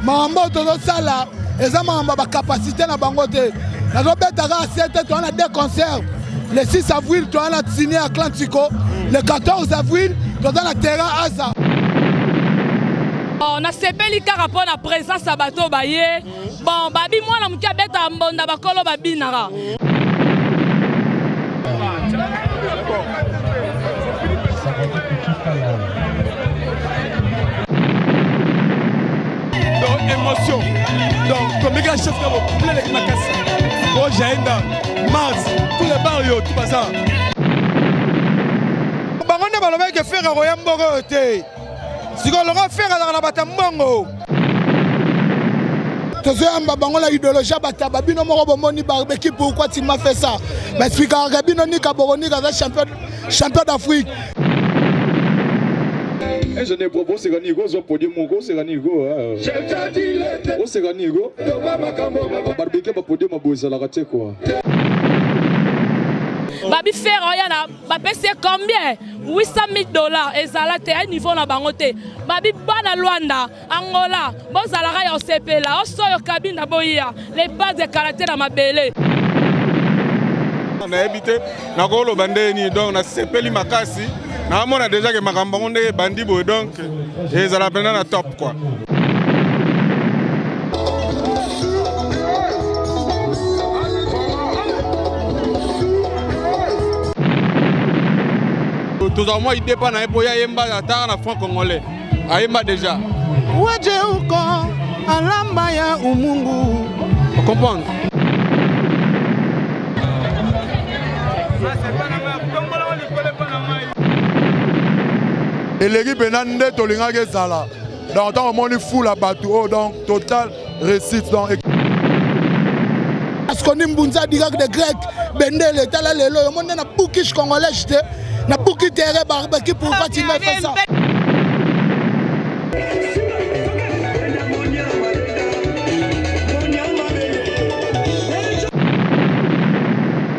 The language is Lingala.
makambo oyo tozosala eza makambo ya bacapacité na bango te nazobeta kaka sete toza na deux concert le 6 avril toza na signe ya clan tico le 14 avril toza na terrain aza Bon, nasepeli kaka mpo na presence ya bato baye bon babi mwana moke abeta mbonda bakolo babinaka émotion donc komika chef kabo plein avec makasi o jaenda mars tous les bar yo tout baza bango nde balobaki ke ferre akoya mboka oyo te sikoyo longo fere azalaka na bato ya mbongo tozoyamba bango na idéologie ya bataba bino moko bomoni barbeki pourkoi tima fait ça baexplikaka bino nika boronika aza champion, champion d'afrique ingénieur bobo oseka nini ko ozwa podium moko oseka nini ko oseka nini ko barbeki ya bapodium abo ezalaka te kua babi fere oya na bapesi ye combien 800000 dollars ezala te ya niveau na bango te babi bana lwanda angola bozalaka ya osepela osoyo kabinda boya le base de caractère na mabele nayebi te nakoloba ndenge nini donc nasepeli makasi naamona deja ke makambo yango ndenge ebandi boye donc ezala mpenza na top tozala mwa idée mpa na ye mpo ye ayemba ataka na franc congolais ayemba déjà wajeuko alamba ya umungu okomprendre eleki mpenza nde tolingaki ezala donc ntango omoni fula bato oyo oh, donc total réussite donc parce que ni mbunza digak de grec bendele tala lelo yo moni na bukish congolais te na buki tere barbaki pour fatima fesa